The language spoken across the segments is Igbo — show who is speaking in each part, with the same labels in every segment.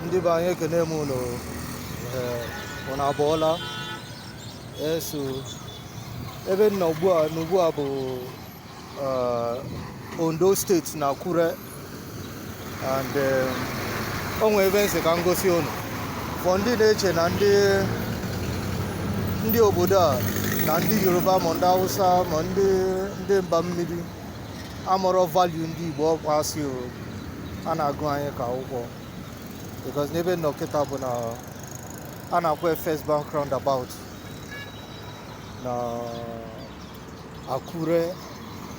Speaker 1: ndị be anyị ekene m ụnụ ụna abọọla eso ebe m nọ ugbu a bụ Ondo State na Akure and o nwe ebe m sị ka m gosi ụnụ for ndị na-eche na ndị ndị obodo a na ndị Yoruba ma ndị Hausa ma ndị ndị mba mmiri amarọ value ndị Igbo ọ kwa asị o a na-agụ anyị ka akwụkwọ because n'ebe m nọ kịta bụ na a na-akpọ first bank roundabout na Akure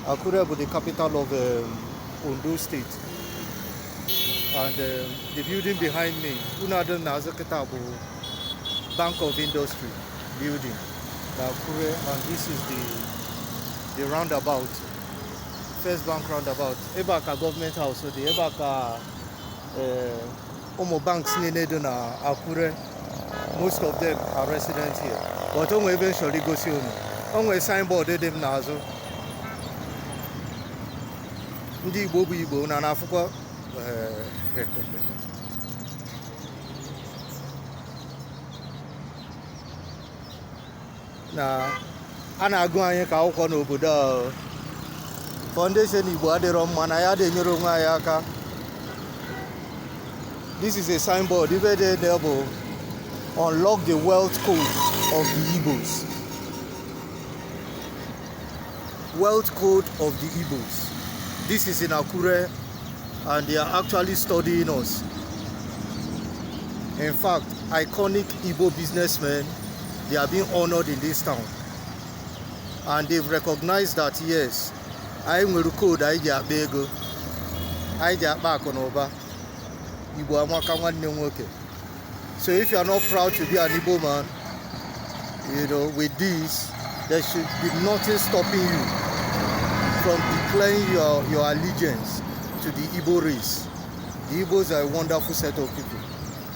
Speaker 1: Akure bụ the capital of um, Ondo State and um, the building behind me ụnọ a dị m n'azụ kịta bụ Bank of Industry building na Akure and this is the the roundabout First Bank roundabout ebe a ka government house dị ebe a ka eh, ụmụ banks niile dị na Akure most of them are resident here but o nwere ebe m chọrọ igosi unu o nwere signboard dị m n'azụ ndị Igbo bụ Igbo na na-afụkwa eh, na a na-agụ anyị ka akwụkwọ n'obodo a for ndị sị na igbo adịrọ mma na anyị adị enyere onwe anyị aka this is a signboard ive dị there bụ unlock the wealth code of the igbos wealth code of the igbos this is in akure and they are actually studying us in fact iconic igbo businessmen They are being honored in this town and they've recognized that yes, anyị nwere koodu anyị ji akpa ego, anyị ji akpa akụ na ụba. Igbo amaka nwanne nwoke. So if you are not proud to be an Igbo man, you know, with this, there should be nothing stopping you from declaring your, your allegiance to the Igbo race. The Igbos are a wonderful set of people.